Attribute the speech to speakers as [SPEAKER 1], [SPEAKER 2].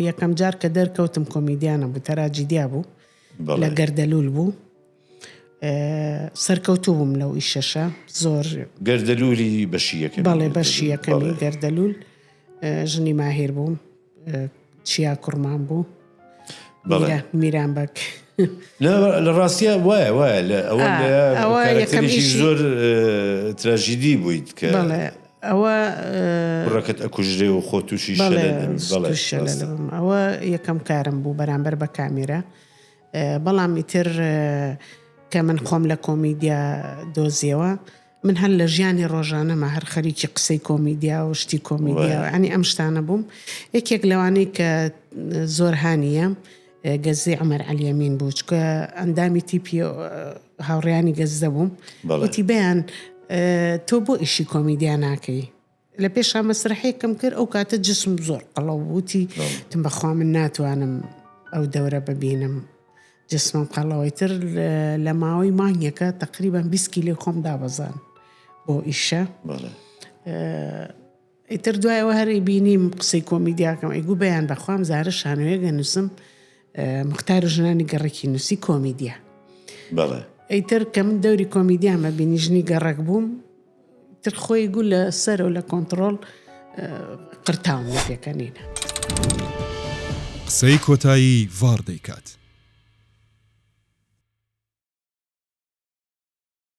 [SPEAKER 1] یەکەم جار کە دەرکەوتم کۆمیدیانە بوو تەراجیدیا بوو لە گەردەلول بوو سەرکەوتو بووم لەو ئیشەشە زۆر گەردەلولی
[SPEAKER 2] بەشیەکە بەڵێ بەشیەکەمی
[SPEAKER 1] گەردەلول ژنی ماهیر بووم چیا کوڕمان بوو میران بەک لە
[SPEAKER 2] ڕاستە وایە وایە لە ئەوە زۆر تراژیدی بوویت کە ئەوە.
[SPEAKER 1] کوڕەکەت
[SPEAKER 2] ئەکوژرێ و خۆ تووشی شەلل
[SPEAKER 1] بم ئەوە یەکەم کارم بوو بەرامبەر بە کامێرە بەڵام ئیتر کە من خۆم لە کۆمیدیا دۆزیەوە من هەر لە ژیانی ڕۆژانەمە هەر خەریکی قسەی کۆمیدیا و شتی کۆمیدیا ئەنی ئەم شتانە بووم یەکێک لەوانەی کە زۆر هاانیە گەززەی عومەر عەلی ئەمین بوو چکە ئەندامی تیپی هاوڕیانی گەززە بووم وتی بەیان تۆ بۆ ئیشی کۆمیدیا ناکەی لە پێشا مەسرحەیەکەم کرد ئەو کاتە جسم زۆر قەڵەو وتی تم بەخوا من ناتوانم ئەو دەورە ببینم جسمم قەڵەوەی تر لە ماوەی مانگێکە تقریبان 20 کیلۆ خۆم دابەزان بۆ ئیشە ئیتر دوایەوە هەر ئیبینیم قسەی کۆمیدیاکەم ئەیگو بەیان بەخوام زارە شانۆیەک ئەنوسم مختار و ژنانی گەڕەکی نوسی کۆمیدیا بەڵێ ئەیتر کە من دەوری کۆمیدیان ئەبینی ژنی گەڕەک بووم تر خۆی گو لە سەرەوە لە کۆنتترۆل
[SPEAKER 3] قرتاون
[SPEAKER 1] لە پێکەنینە.
[SPEAKER 3] قسەی
[SPEAKER 1] کۆتایی
[SPEAKER 3] ڤاڕ دەیکات.